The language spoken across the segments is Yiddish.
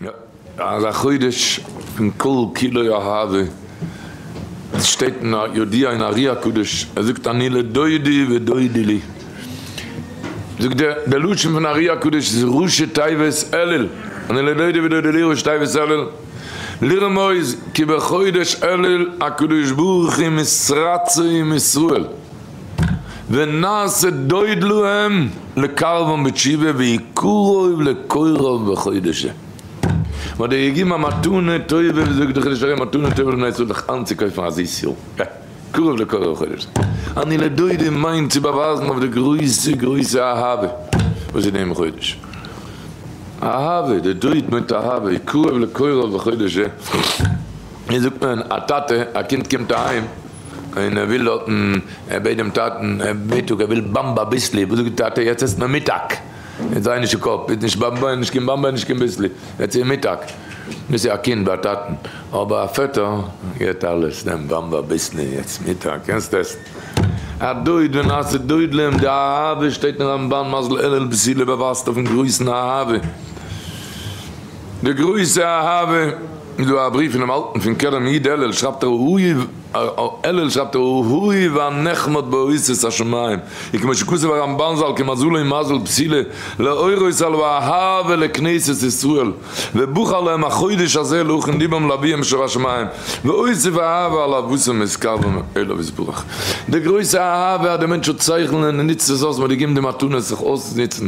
יא, אז א חודש פון כל כולו אהבה, עס שטייט אין א יודיע אין ארי הקדוש, ער זאגט אני לדודי ודודי לי, זאגט ער, דער לשון פון ארי הקדוש איז ראשי תיבות אלול, אני לדודי ודודי לי ראשי תיבות אלול, לרמוז כי בחודש אלול הקדוש ברוך הוא מסרצו עם ישראל. ונעשה דוד להם לקרבן בתשובה והי' קרוב לקרוב בחודש זה. מ'האט דיר געגעבן א מתנה טובה, ווי זאגט דער חידוש הרי מתנה טובה לבני ישראל זיך איינצוקויפן א זיס יאר, ב ה קרוב לקרוב בחודש זה. אני לדודי מיינט צו באווייזן אויף די גרויסע גרויסע אהבה וואס איז דעם חודש. אהבה, די דוד מיינט אהבה, והי' קרוב לקרוב בחודש זה. ווי זאגט מען, א טאטע, א קינד קומט אהיים, און ער וויל דארטן, ער בעט דעם טאטן, ער בעט טאג ער וויל באמבע אביסלי, וואס זאגט די טאטע, יעצט עסט מען מיטאג, יעצט זיי נישט אין קאפ, איז נישט באמבע איז נישט קיין באמבע איז נישט קיין ביסלי, יעצט איז מיטאג, דאס איז א קינד ביי א טאטן, אבער א פעטער געט אלעס, נעם באמבע אביסלי, יעצט מיטאג, קענסט עסן, א דוד ונעשה דוד להם, די אהבה שטייט אין רמבן מז ל אלול בסי' ל באווייזט אויפן גרויסן אהבה. די גרויסע אהבה איז דא א בריוו פונעם אלטן פון קרן איד אלל שרייבט ער אהוי אלל שרייבט ער אהוי ואנחמד בארוסות השמים און כמו שכתב הרמבן זל כמזלו מזל פסילה לאורות על ואהבה לכנסת ישראל ובחר להם החודש הזה להכין ליבם לאביהם שבשמים והוסיף אהבה על אהבתם את קרבם אליו יתברך די גרויסע אהבה אז די מענטש האט שכל און ער נוצט עס אויס מען האט געגעבן די מתנות זיך אויסצונוצן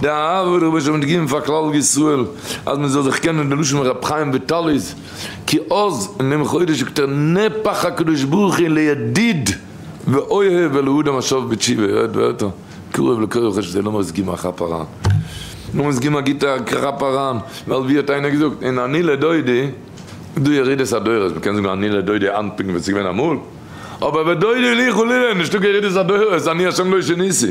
די אהבה רבה שוין מיט געגעבן פאר כלל ישראל אז מען זאל זיך קענען די לשון רבי חיים וויטאלי'ס כי עוז און דעם חודש זאגט ער נהפך הקדוש ברוך הוא לידיד ואוהב ולאדם השב בתשובה עוד ועוד קרוב לכל רחש זיעה לאמיר עס געבן א כאפ אריין לאמיר עס געבן א גוטע כאפ אריין ווייל ווי האט איינער געזאגט אין אני לדודי איז דא ירידת הדורות מען קען זאגן אני לדודי היינט פונקט ווי עס איז געווען אמאל אבער ודודי לי חלילה נישטא קיין ירידת הדורות אני השם לא שיניתי.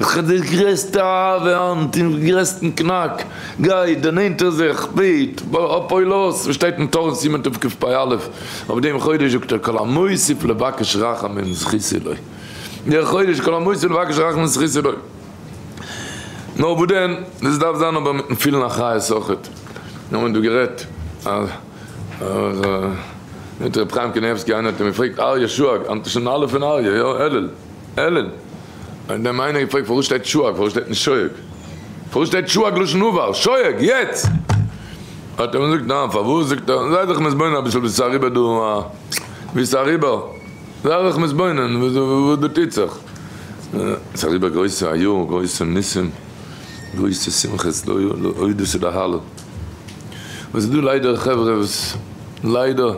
איך האב די גרעסטע אהבה היינט אין גרעסטן קנאק, גיי, דערנענטער זיך, בעט, אפויל אויס, וואס שטייט אין תורת סימן תקפ פ א, אויף דעם חודש זאגט ער כל המוסיף לבקש רחמים זכית לו, דער חודש כל המוסיף לבקש רחמים זכית לו, נאר וואס דען, דאס דארף זיין אבער מיטן פילן א חיות אויכעט, מיר האבן דא גערעדט מיט ר' חיים קנייבסקי, איינער האט אים געפרעגט אריה שואג, היינט איז שוין א' אין אריה, יא, אלול. אלען, האט דעם איינער געפרעגט פארוואס שטייט שואג פארוואס שטייט נישט שויעג? פארוואס שטייט שואג לשון עבר? שויעג! יעצט! האט ער געזאגט ניין פארוואס זאגט ער זיי זיך מתבונן אביסל וואס איז אריבער דא א וואס איז אריבער זיי זיך מתבונן וואס דא טוט זיך ס'איז אריבער גרויסע א יאר גרויסע ניסים גרויסע שמחות לא יאומן הודו ס'דער הלל. וואס איז דא ליידער חברה וואס ליידער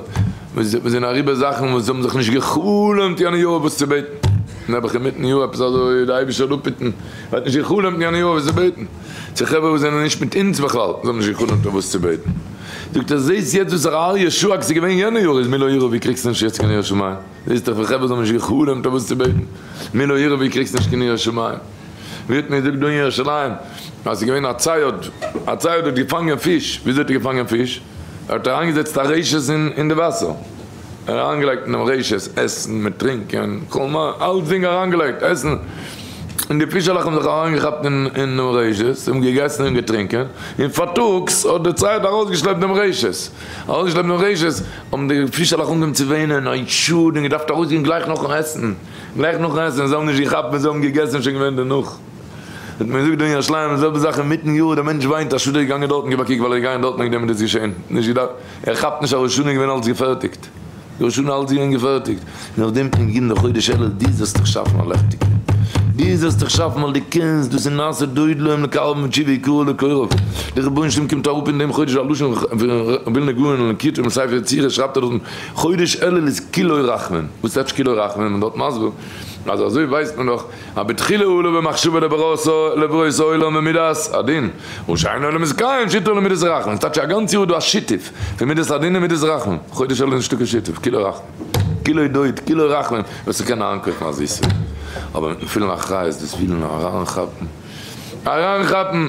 וואס זענען אריבער זאכן וואס זיי האבן זיך נישט גע'חלומ'ט יענע יאר וואס צו בעטן, נעבעך אינמיטן יאר עפעס אזוי די אייבישטער האט אפהיטן, ער האט נישט גע'חלומ'ט יענע יאר וואס צו בעטן, צו חברה וואס זענען נישט מיט אונז בכלל, זיי האבן נישט גע'חלומ'ט אויף וואס צו בעטן, זאגט ער זעהסט יעצט וואס הרב אריה שאג ס'איז געווען יענע יאר איז מי לא ירא ווי קריגסט נישט יעצט קיין יראת שמים, זעהסט דאך ווי חברה זיי האבן נישט גע'חלומ'ט אויף וואס צו בעטן, מי לא ירא ווי קריגסט נישט קיין יראת שמים. ווערט מיר געזאגט דא אין ירושלים אז ס'איז געווען א צייד, א צייד האט געפאנגען פיש, וויאזוי האט ער געפאנגען פיש? ער האט אריינגעזעצט א רשת אין די וואסער, ער האט אריינגעלייגט אין דעם רשת עסן מיט טרינקען, כל מה, אלצדינג אריינגעלייגט, עסן, און די פישעלעך האבן זיך אריינגעכאפט אין דעם רשת, זיי האבן געגעסן און געטרינקען, און פארטאגס האט דער צייד ארויסגעשלעפט דעם רשת, ארויסגעשלעפט דעם רשת, האבן די פישעלעך אנגעהויבן צו וויינען, אוי שאד, און געדארפט ארויסגיין גלייך נאכן עסן. גלייך נאכן עסן, זיי האבן נישט געכאפט ווען זיי האבן געגעסן איז שוין געווען דערנאך, האט מען געזאגט דא אין ירושלים די זעלבע זאך אינמיטן יאר, דער מענטש וויינט אז שדא איז געגאנגען דארטן גיב א קוק ווייל ער איז געגאנגען דארטן וועגן דעם איז דאס געשען, נישט געדארפט, ער כאפט נישט אז ראש השנה איז געווען אלץ געפערטיגט, ראש השנה אלץ געווען געפערטיגט, און אויף דעם קומט גימ' לחודש אלול דו זאלסט דיך שאפן א לעכטיגע, דו זאלסט דיך שאפן ווייל דו קענסט, דאס איז נעשה דוד להם לקרב ותשובה יקראו לקרוב, דער רבונו של עולם קומט אראפ אין דעם חודש א לשון ווילנא גאון אין כתר מספר יצירה שרייבט ער דארטן. חודש אלול איז כולו רחמים, וואס טייטש כולו רחמים? מען דארט מסביר אז אזוי ווייסט מען דאך אז בתחילה הוא לו במחשבה לברואת העולם ומידת הדין, הוא שאין עולם איז קיים שיתוף למידת הרחמים, ס'טייטש אז א גאנץ יאר איז דא א שיתוף פון מידת הדין און מידת רחמים, חודש אלול איז נישטא קיין שיתוף, כולו רחמים, כולו דעות, כולו רחמים, ווער ס'קען אריינקויפן א זיסע, אבער מיטן פילן אחריות, דאס פילן און אריינכאפן, אריינכאפן.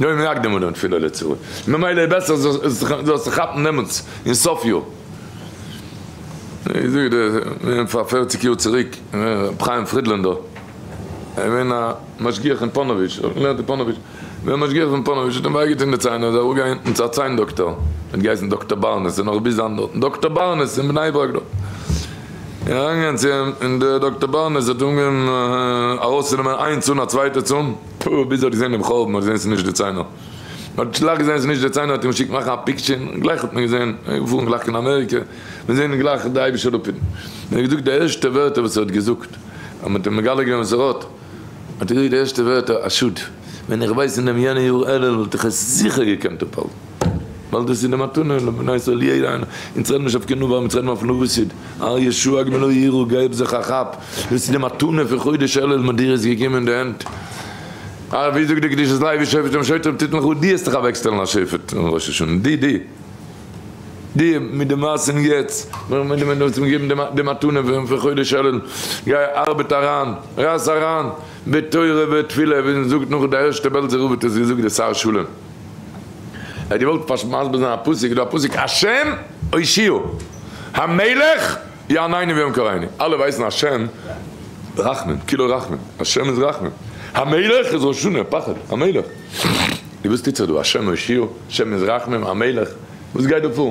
לא יום יקדים ולא יום תפילה לצורי, ממילא איז בעסער זאלסט זיך כאפן דעמאלטס אין סוף יאר. פאר פערציג יאר צוריק ר' חיים פרידלענדער געווען א משגיח אין פאנאוויטש, האט געלערנט אין פאנאוויטש, געווען משגיח אין פאנאוויטש, האט אים וויי געטון די ציין, איז ער אראפ געגאנגען צו א ציין דאקטאר, האט געהייסן דאקטאר בארנעס, איז נאך ביז היינט דארטן, דאקטאר בארנעס אין בני ברק דארט, איז אריינגעגאנגען צו אים און דער דאקטאר בארנעס האט אנגעהויבן ארויסצונעמען איין צאן א צווייטע צאן, טא ביז ער האט געזען דעם חורבן האט ער געזען ס'איז נישט די ציינער. ער האט גלייך געזען ס'איז נישט די ציינער האט אים געשיקט מאכן א פיקטשער און גלייך האט מען געזען געפארן גלייך קיין אמעריקע מיר זעען גלייך די אייבישע לפיד און ער האט געזאגט די ערשטע ווערטער וואס ער האט געזאגט אז מ'האט אים מגלה געווען וואס ער האט האט ער געזאגט די ערשטע ווערטער א שאד ווען איך ווייס אין דעם יענע יאר אלול וואלט איך עס זיכער געקענט אפהאלטן. ווייל דאס איז די מתנה לבנות עלי' און אונז רעדן נישט אויף קינדער ווארום אונז רעדן אויף נארישית אר י שו ע ג מלא יראו געב זיך א כאפ דאס איז די מתנה פון חודש אלול מ'האט דיר עס געגעבן אין די הענט א ווי זאגט די קדושת לוי שופט און שוטרים טוט מיך אן די האסט דיך אוועקשטעלן א שופט אום ראש השנה די די די מיט די מעשים יעצט מיט די מען האסט מיר געגעבן די מתנה פון חודש אלול גיי ארבעט אריין רייס אריין בתורה ותפילה ווי מ'זאגט נאך די ערשטע בעלזער רב האט עס געזאגט די שר שלום. ער האט געוואלט פשוט מסביר זיין א פסוק, איז דא א פסוק השם הושיעו, המלך יענינו ויום קראינו, אלע ווייסן השם רחמן, כולו רחמן, השם איז רחמן, המלך איז ראש שנה, פחד, המלך, איז וואס טוט זיך דא, השם הושיעו, השם איז רחמן, המלך, וואס גייט דא פאר?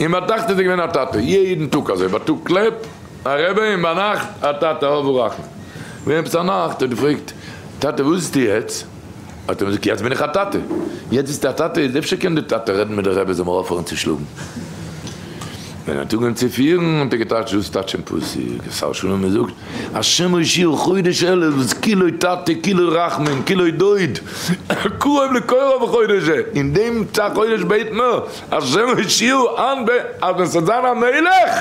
און ביי טאכט איז ער געווען א טאטע יעדן טאג אזוי ביי טאג קלעפ א רעבע און ביי נאכט א טאטע אב הרחמן ווען עפעס א נאכט האט געפרעגט טאטע וואס ביסטו יעצט האט ער געזאגט יעצט בין איך א טאטע יעצט ביסטו א טאטע איז אפשר קען די טאטע רעדן מיט די רעבע זאל מיר אויפהערן צו שלאגן ווען ער האט אנגעהויבן צו פירן האט ער געטייטש דאס טייטש אין פסוק אז שר שלום מזאגט השם הושיעו חודש אלול וואס כולו טאטע כולו רחמים כולו דוד קרוב לקרוב חודש זה אין דעם חודש בעט מען השם הושיעו אנ ב אז ווען ס'וועט זיין א מלך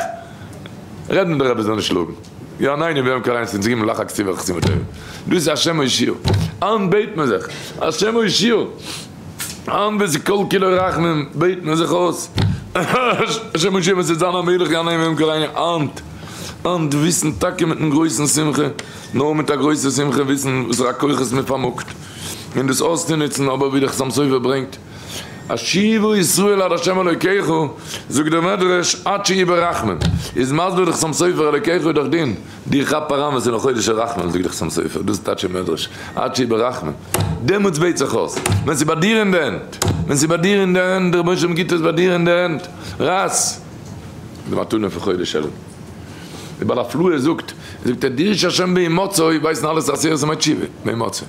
רעדט מען דאך עפעס זאל נישט שלאגן יא ניין אין וועם קריינס אין זיגן מלאך הכתיב וחכתיב ותורה דאס איז השם הושיעו אנ ב בעט מען זיך השם הושיעו אנ ב ס'איז כל כולו רחמים בעט מען זיך אויס השם הושיעו ווען ס'וועט זיין א מלך יא ניין אין וועם קריינס אנט אנט וויסן טאקע מיטן גרויסן שמחה נאר מיט א גרויסע שמחה וויסן וואסערע כוחות מ'פארמאגט און דאס אויסצונוצן אבער ווי דער חתם סופר ברענגט השיבו ישראל עד ה' אלוקיך, זאגט דער מדרש, עד שיבא רחמים, איז מסביר דער חתם סופר אלוקיך דאך דין, די כאפ אריין וואס אין חודש הרחמים זאגט דער חתם סופר, דאס טייטשט דער מדרש, עד שיבא רחמים, דעמאלטס בעט זיך אויס, ווען ס'איז ביי דיר אין די הענט, ווען ס'איז ביי דיר אין די הענט, דער רבונו של עולם גיבט עס ביי דיר אין די הענט, רייס די מתנה פון חודש אלול. דער בעל הפלאה זאגט, זאגט ער, דיר שה' בעימותו, ווייסן אלע סאסירס און מייט שיבא, בעימותו.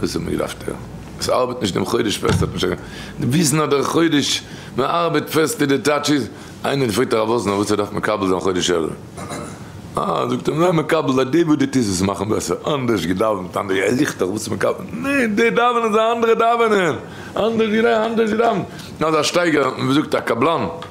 וואס האט מען געדארפט הערן? עס ארבעט נישט דעם חודש פעסט האט נישט קיין וויסן אז דער חודש מען ארבעט פעסט איז די טייטש איז, איינער פרעגט הרב וואזנער וואס ער דארף מקבל זיין חודש אלול, אה זאגט ער זיי מקבל אז די וואס די טוסט עס מאכן בעסער, אנדערש געדאווענט אנדערש געדאווענט, ער זוכט דאך וואס מקבל, ניין די דאווענען זיי אנדערע דאווענען, אנדערש געדאווענט אנדערש געדאווענט, נאר א שטייגער ווי מען זאגט א קבלן.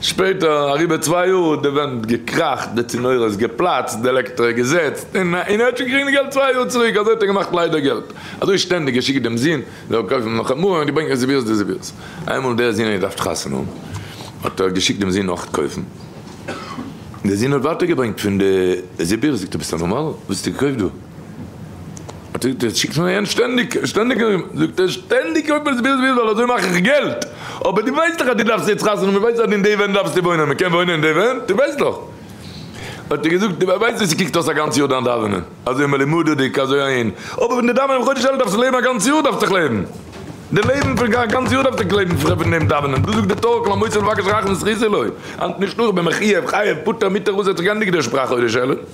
שפעטער, אריבער צוויי יאר, האט די ווענט געקראכט, די צינורות איז געפלאצט, די עלעקטרא איז געזעצט, און ער האט שוין געקריגט די געלט צוויי יאר צוריק, אזוי האט ער געמאכט ליידער געלט, אזוי שטענדיג געשיקט דעם זון זאל קויפן נאך א מראה און געברענגט רעזערווירטס דעזערווירטס, איינמאל דער זון האט געדארפט חתונה האבן, האט ער געשיקט דעם זון נאך קויפן, דער זון האט ווייטער געברענגט פון די רעזערווירטס, זאגט ער ביסט א נארמאלער? וואס האסטו געקויפט דא? שיקסט מיר אהן שטענדיג, שטענדיג זאגט ער, שטענדיג אויב עס ווילסט ווילסט זאל אזוי מאך איך געלט, אבער דו ווייסט דאך אז דו דארפסט יעצט חתונה, מען ווייסט אז אין די ווען דארפסטו וואוינען, מען קען וואוינען אין די ווען, דו ווייסט דאך. האט ער געזאגט, דו ווייסט ווי ס'קוקט אויס א גאנץ יאר דיין דאווענען, אזוי מלומדה'דיג, אזוי אהן, אבער ווען דו דאווענען בחודש אלול דארפסטו לעבן א גאנץ יאר דארפסטוך לעבן, די לעבן פון א גאנץ יאר דארפסטוך לעבן פון דעם דאווענען, דאס זאגט די תורה כל המוציא לבקש רחמים זכית לו, היינט נישט נאר, ווען מען חייב, חייב, פאטער, מוטער, אויסער צו גיין נגד דער שפראך חודש אלול.